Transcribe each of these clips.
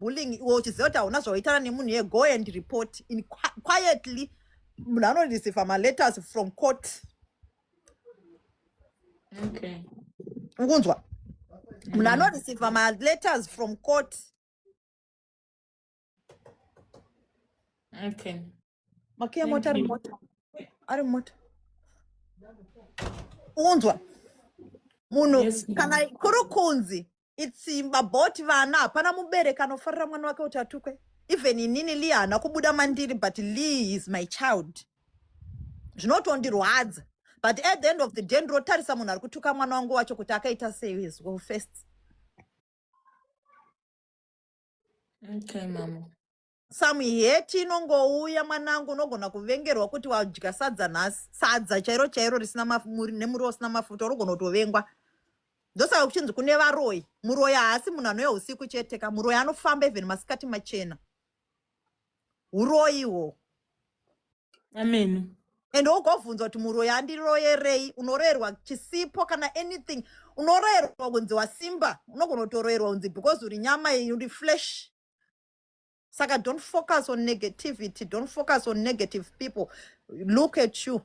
bullying iwe uchiziva kuti hauna zvawaitana nemunhu ye go and report in quietly munhu anoreceiva maletters from court okay ukunzwa munhu mm. anoreceiva maletters from court okay makiya mota ari mota ari mota unzwa munhu kana kuri kunzi itsimba bot vana hapana mubereki anofarira mwana wake kuti atukwe even inini lee haana kubuda mandiri but lee is my child zvinotondirwadza but at the end of the day ndirotarisa munhu ari kutuka mwana wangu wacho kuti akaita sei his well first okay mama some hate inongouya mwanangu unogona kuvengerwa kuti wadya sadza nhasi sadza chairo chairo risina nemuriwo usina mafuta unogona kutovengwa ndosaka kuchinzi kune varoyi muroyi haasi munhu anouya usiku chete ka muroyi anofamba even masikati machena uroyi wo ameno and ugobvunza kuti muroyi andiroyerei unoroyerwa chisipo kana anything unoroyerwa kunzi wasimba unogona kutoroyerwa kunzi because uri nyama uri flesh saka don't focus on negativity don't focus on negative people look at you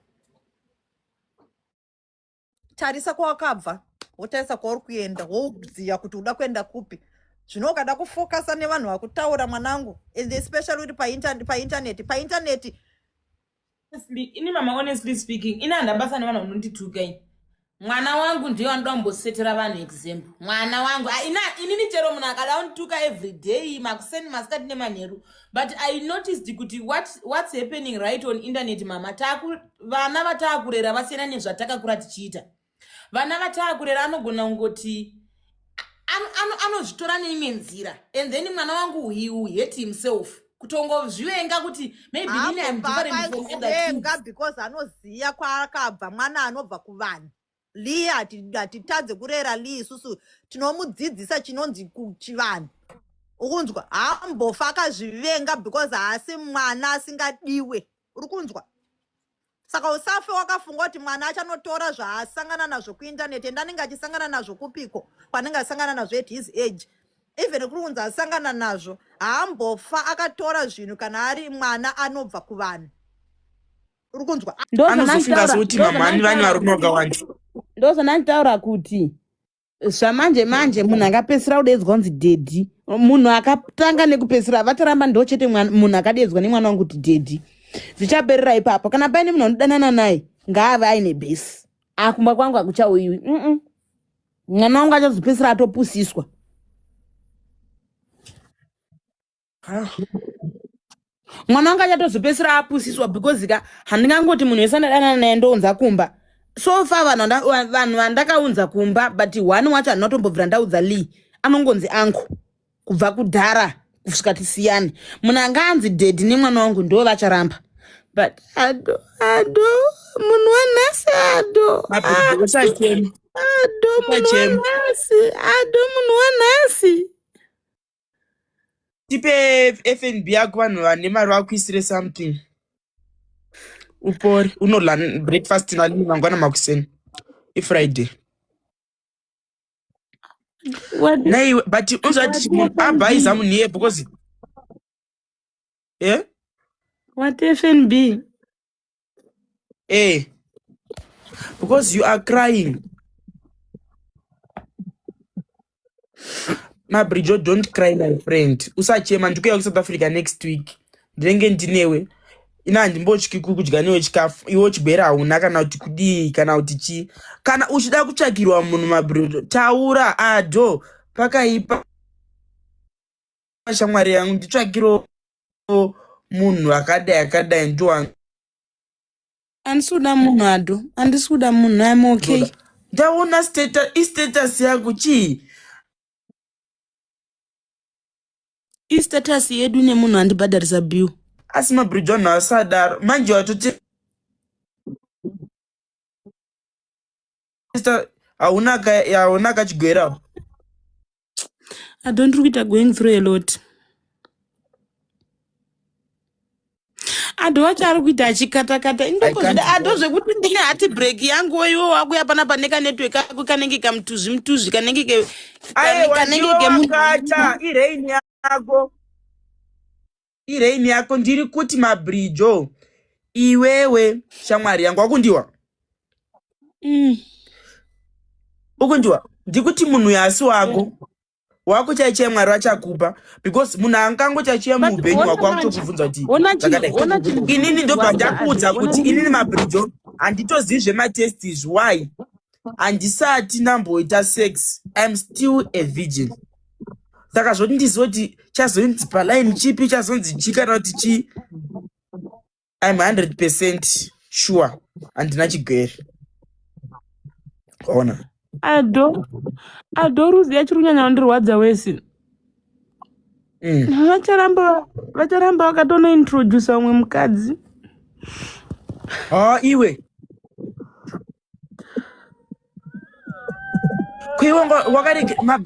tarisa kwawakabva wotarisa kwauri kuenda wouziva kuti uda kuenda kupi zvino ukada kufokasa nevanhu vakutaura mwanangu and especially kuti paintaneti paintaneti Honestly, ini mama honestly speaking ini handina basa nevanhu vanondituka ini mwana wangu ndiye vanoda kumbosetera vanhu example mwana wangu Ah, ina inini chero munhu akada kundituka every day makuseni masikati nemanheru but i noticed kuti what, what's happening right on internet mama Taku, vana vataakurera vasiyana nezvatakakura tichiita vana vataakurera anogona kungoti anozvitora ano, ano neimwe nzira and then mwana wangu he will hate himself kutongozvivenga kuti maybe ah, ini am different from other kids because anoziva kwaakabva mwana anobva kuvanhu lee hatitadze kurera lee isusu tinomudzidzisa chinonzi kuchivanhu ukunzwa hambofa akazvivenga because haasi mwana asingadiwe uri kunzwa saka usafe wakafunga kuti mwana achanotora zvaasangana nazvo kuintaneti ende anenge achisangana nazvo kupiko kwanenge asangana nazvo at his age even kuri kunzi asangana nazvo haambofa akatora zvinhu kana ari mwana anobva kuvanhu uri kunzwa ndozvandanditaura kuti zvamanje manje munhu akapedzisira kudeedzwa kunzi dhedhi munhu akatanga nekupedzisira vataramba ndo chete munhu akadeedzwa nemwana wangu kuti dhedhi zvichaperera ipapo kana paine munhu anodanana naye ngaave aine bhesi akumba ah, kwangu akuchauyiwi mwana wangu achazopedzisira atopusiswa mwana wanga achatozopedzisira apusiswa because ka handingangoti munhu wese andadanana naye ndounza kumba so far vanhu vanda- wa- vanhu vandakaunza kumba but one wacho handinatombobvira ndaudza lee anongonzi angu kubva kudhara kusvika tisiyane munhu anga anzi dedi nemwana wangu ndo vacharamba but ado ado munhu wanhasi ado Mapedza usachema. ado munhu Usachema. wanhasi ado munhu wanhasi tipe fnb yako vanhu vane mari vakuisire something upore unorla breakfast nalini mangwana makuseni ifriday naiwe but unzvati munhu abhaiza munhu iye because e eh? what fnb Eh. Because you are crying. Mabrijo, don't cry, my friend. Usachema, ndikuya ku South Africa next week. Ndenge ndinewe. Ina handimbotyi kudya newe chikafu. Iwo chibera hauna kana kuti kudii kana kuti chi. Kana uchida kutsvakirwa munhu mabrijo, taura ado pakaipa shamwari yangu nditsvakiro so munhu akadai akadai ndiwa handisi kuda munhu ado handisi kuda munhu im okay Ndoda- ndaona status istatus yako chii istatus yedu nemunhu andibhadharisa bill asi mabridge vanhu asadaro manje watoti sister hauna ka hauna kachigwera I don't look at going through a lot. Ado wacho ari kuita achikatakata I indoko can't zvida ado go zvekuti ndine hati break yangu iwo wakuya pana pane kanetwork kako kanenge kamutuzvi mutuzvi kanenge ke kane- ayewa kanenge ndiwe kemu wakata iraini yako irain yako ndiri kuti mabrijo iwewe shamwari yangu wakundiwa mm. ukundiwa ndikuti munhu yasi wako wakuchaichai mwari vachakupa because munhu angangochaichia muupenyu wako wakutokubvunza kuti inini ndobva ndakuudza kuti inini mabrijo handitozivi zvematestis why handisati ndamboita sex im still a virgin saka zvoti ndiziva kuti chazonzi palaini chipi chazonzi chi kana kuti chii im hundred percent sure handina chigwere ona ado ado ruzi yachiri kunyanya vandirwadza wese mm. vacharamba vacharamba vakatonointrodusa umwe mukadzi ha iwe kuiwonga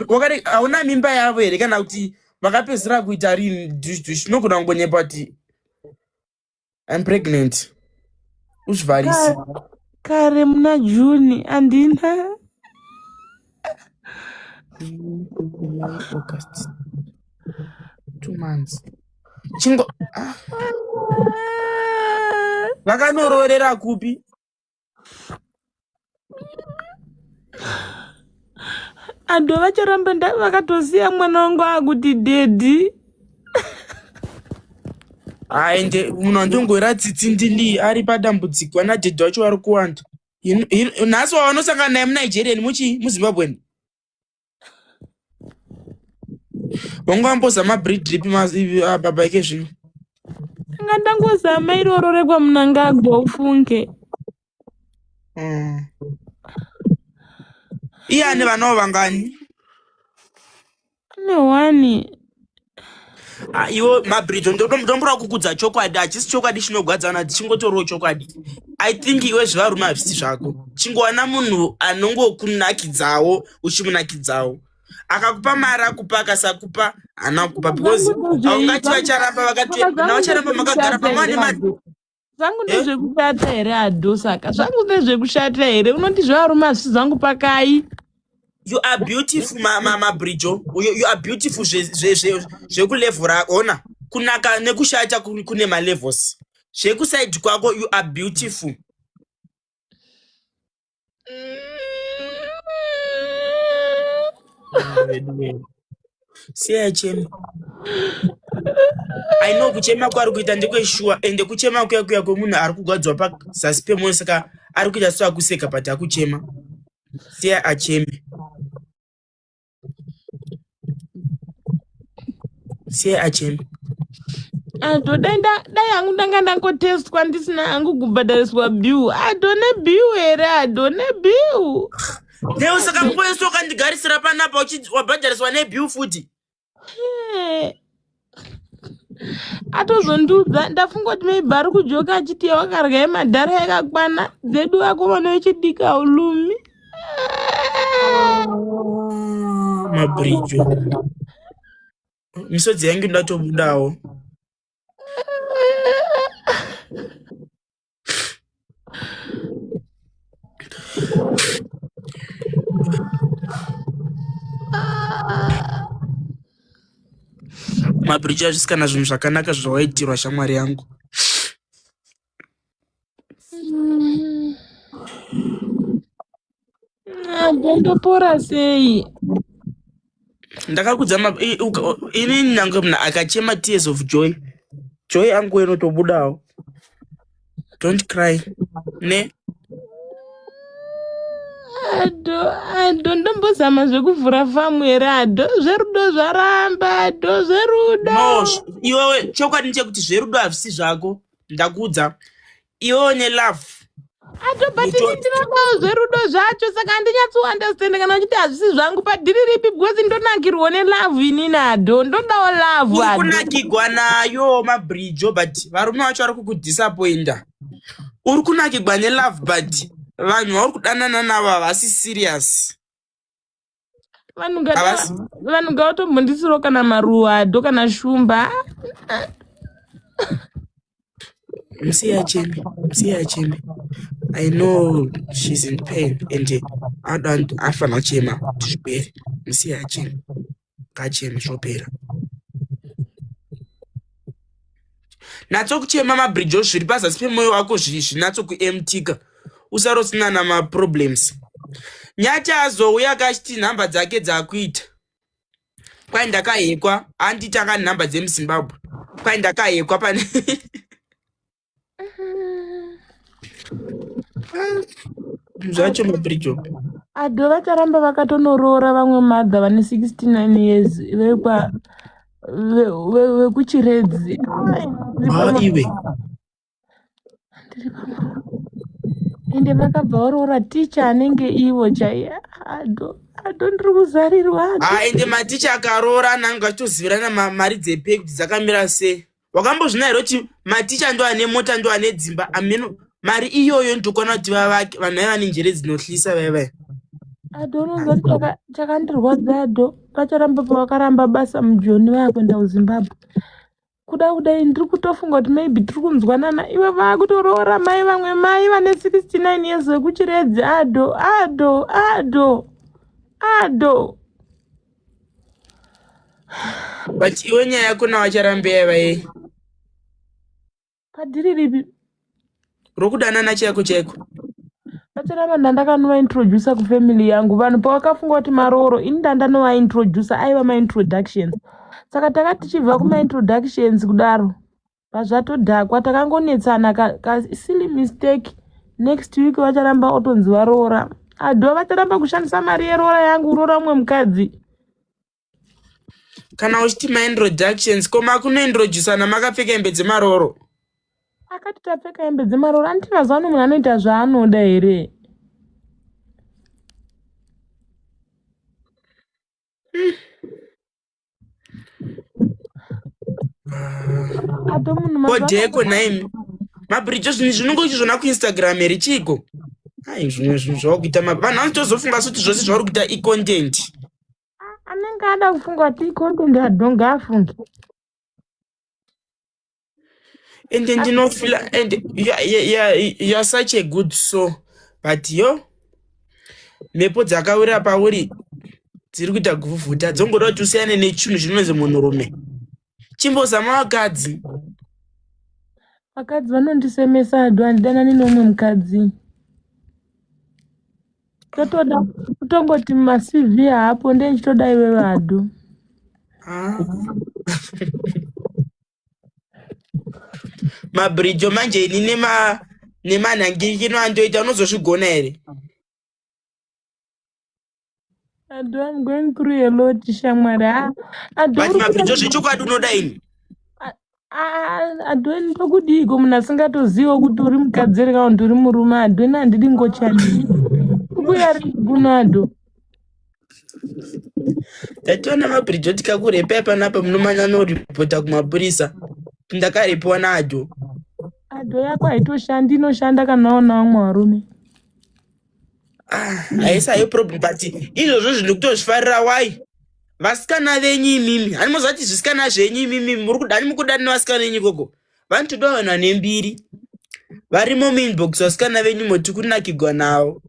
wakare hauna mimba yavo here kana kuti vakapedzisira kuita rini dushdush unogona kungonyepa kuti im pregnant uzvivharisi kare muna june andina august two months chingo ah. vakanoroorera kupi antu vacharamba ndai vakatosiya mwana wangu akuti dedi aende munhu andongoira tsitsi ndili ari padambudziko ana dedi vacho vari kuwanda nhasi wavanosangana naye munigerian muchi muzimbabwen wangambozama bridge ripi ah, baba ike zvino anga ndangozama iroro rekwamunangagwa ufunge mm. iye ane vanawo vangani ane one Ah, iwo mabrijo ndombura kukudza chokwadi hachisi chokwadi chinogwadzana chingotorowo chokwadi i think iwe zvevarume hazvisi zvako chingowana munhu anongokunakidzawo uchimunakidzawo akakupa mari akupa akasakupa hana kupa because aungati vacharamba vakati navacharamba makagara pamwe ane mari zvangu ndezvekushata here adhosaka zvangu ndezvekushata here unoti zvevarume hazvisi zvangu pakai you are beautiful mama mabrijo you, you are beautiful zvekulevhu rako ona kunaka nekushata kune malevels zvekusaidi kwako you are beautiful siya chema i know kuchema kwari kuita ndekweshuwa ende kuchema kuya kuya kwemunhu ari kugwadzwa pazasi pemoyo saka ari kuita so akuseka but akuchema siya acheme siye achema atodenda dai hangu ndanga ndangotestwa ndisina hangu kubhadhariswa bill adone bill here adone bill Leo saka mpoeso ukandigarisira panapa uchi- wabhadhariswa nebill futi. Eh, atozondiudza ndafunga kuti maybe ari kujoka achiti yawakarya yemadhara yakakwana dzedu vakomana vechidika ulumi mabridge misodzi yange ndatobudawo mabhiriji azvisi kana zvinhu zvakanaka zvawaitirwa shamwari yangu ndopora sei ndakakudza ini nyange mna akachema tears of joy joy angu inotobudawo don't cry ne ado ado ndombozama zvekuvhura famu here ado zverudo zvaramba ado zverudo no iwewe chokwadi ndechekuti zverudo hazvisi zvako ndakudza iwe une love ato but Muto- ini ndinodawo zverudo zvacho saka handinyatsounderstand kana uchiti hazvisi zvangu padhiri ripi because ndonakirwo nelove ini nado ndodawo love uri ado kunakigwa nayo mabridge but varume vacho vari kukudisappointa uri kunakigwa nelove but vanhu vauri kudanana navo havasi serious vanhu ngata- Havasi- vanhu ngavatombondisirawo kana maruwado kana shumba Msiya Jimmy, Msiya Jimmy. I know she's in pain and uh, I don't afa nachema zvipere. Msiya Jimmy. Kacheme zvopera. natsokuchema mabridge ozviri pazasi pemoyo wako zvinatsokuemtika usarosinana maproblems nyati azouya akachiti nhamba dzake dzakuita kwai ndakahekwa anditanga nhamba dzemuzimbabwe kwai ndakahekwa pane zvacho mabridge ado vacharamba vakatonoroora vamwe madha vane 69 years vekwa vekuchiredzi maiwe ende vakabva varoora ticha anenge ivo chaiye ado ndiri kuzarirwa ende maticha akaroora ananga achitozivirana mari dzepei kuti dzakamira sei wakambozvinaira kuti maticha ndo ane mota ndo ane dzimba ameno mari iyoyo ndokwana kuti vavake vanhu vaiva nenjere dzinohlisa vaivai adononza chakandirwadza ado pacharamba pavakaramba basa mujoni vaya kuenda kuzimbabwe kuda kudai ndiri kutofunga kuti maybe tiri kunzwanana iwe vakutoroora mai vamwe mai vane 69 years vekuchiredzi ado ado ado ado but iwe nyaya yako nawacharambe yaiva yei padhiri ripi rokudanana chaiko chaiko vacharamba ndandakanovaintroducer kufamily yangu vanhu pavakafunga kuti marooro ini ndandanovaintroducer aiva maintroductions saka tanga tichibva kumaintroductions kudaro pazvatodhakwa takangonetsana ka, ka silly mistake next week vacharamba otonzi varoora adho vacharamba kushandisa mari yeroora yangu uroora umwe mukadzi kana uchiti maintroductions ko makunointroducana makapfeka hembe dzemarooro akati tapfeka hembe dzemarooro anditi mazuva ano munhu anoita zvaanoda here kodeko naimi mabridge zvinhu zvinongo uchizvona kuinstagram here chiiko ai zvimwe zvinhu zvawakuita vanhu vanotozofunga suti zvose zvauri kuita icontent anenge ada kufunga kuti icontent adonga afunge and ndinofila and youare such a good so but yo mhepo dzakawira pauri dziri kuita kuvhuvhuta dzongoda kuti usiyane nechinhu chinonzi munhurume chimbozama vakadzi vakadzi vanondisemesa adu handidanani nomwe mukadzi totoda kutongoti macv haapo ndee chitoda iwe vadu ah. mabridge manje ini nema nemanhangirikino andoita unozozvigona here ado am going through a lot shamwari ah, ado but uri kuda mabridge zvechokwadi unoda ini adweni tokudiiko munhu asingatozivo kuti uri mukadzi here kana kuti uri murume adweni handidi ngochani kubuya ri kuno ado Tationa mabridge otika kurepa ipanapa munomanya noripota kumapurisa ndakarepiwa naadho adho yako haitoshandi inoshanda kana waona vamwe varume haisa ah, yo problem but izvozvo zvinhu kutozvifarira wai vasikana venyu imimi hani mozvati zvisikana zvenyu imimi muri kudani mukudanira vasikana venyu ikoko vanhu toda vanhu vane mbiri varimo muinbox vasikana venyu moti kunakigwa navo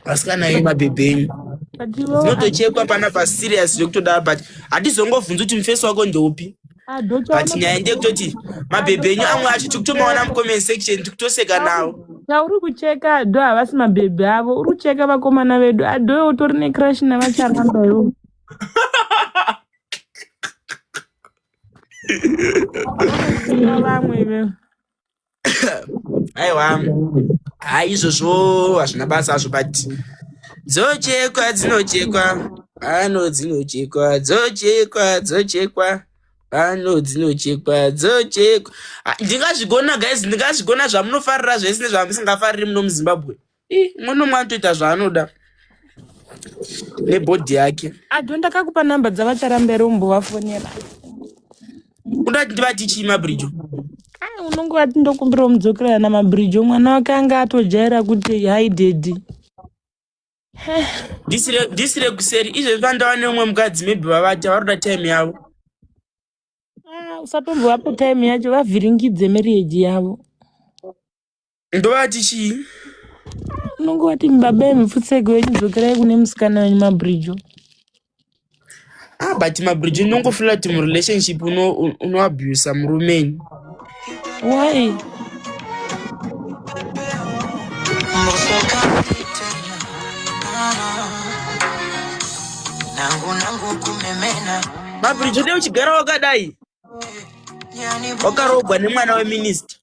vasikana venyu mabhebhe enyu dzinotochekwa pana paserious zvekutodava but hatizongovhunzi kuti mufesi wako ndeupi ah, but nyaya ndekutoti mabhebhe enyu amwe acho tikutomaona mucomment section tikutoseka navo chauri kucheka ado havasi mabhebhe avo uri kucheka vakomana vedu ado utori necrash navacharamba ivo Vanoziva vamwe ivewe. aiwa ha izvozvo hazvina basa hazvo but dzochekwa dzinochekwa pano dzinochekwa dzochekwa dzochekwa pano dzinochekwa dzochekwa Ah, ndingazvigona guys ndingazvigona zvamunofarira zvese nezvamusingafariri muno muzimbabwe Ih, umwe nomwe anotoita zvaanoda nebhodhi yake Ado ndakakupa number dzavacharambera umbovafonera. unoda kuti ndivati chii mabridge Ah, unonge wati ndokumbira umudzokerera namabridge mwana wake anga atojaira kuti hi daddy. ndisire ndisire kuseri izvezvi pandava neumwe mukadzi maybe vavati varoda time yavo Ah, usatombovapa time yacho vavhiringidze marriage yavo. ndovati chii unonge wati baba emupfutseki wenyu dzokerai kune musikana wenyu mabridjo ah but mabridjo unongofila kuti murelationship unoabusa uno murumeni why mabridjo dei uchigara wakadai wakarogwa nemwana weminista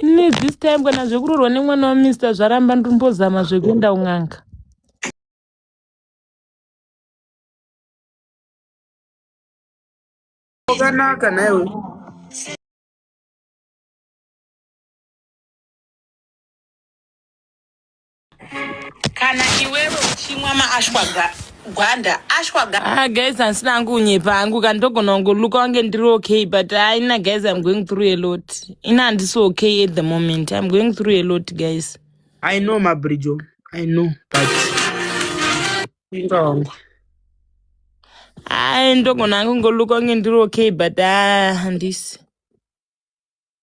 ini this time kana zvekurorwa nemwana weminista zvaramba ndimbozama zvekuenda un'anga wakanaka naiwe kana iwewe uchimwa maashwaga gwanda ashwaga ah guys handisina angu unyepa angu ka ndogona kungoluka wange ndiri okay but haina ah, guys im going through a lot ina handisi okay at the moment im going through a lot guys i know mabrijo i know but ingawangu hayi ah, ndogona angu ngoluka wange ndiri okay but ah, handisi ah,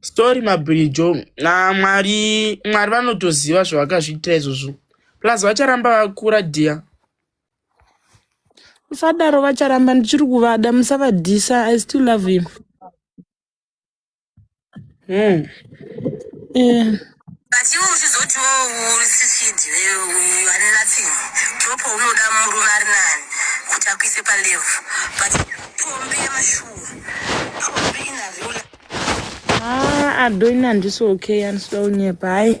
Sorry mabhirijo na mwari mwari vanotoziva zvavakazviitira izvozvo plus vacharamba vakura dear musadaro vacharamba ndichiri kuvada musavadhisa i still love him hmm. eh. but iwe uchizotiwo usisidi uyu ane nothing drop unoda murume ari nani kuti akuise palevu but pombi yemashuwa pombi ina real Ah, adoni handisi okay andisida unyepa hayi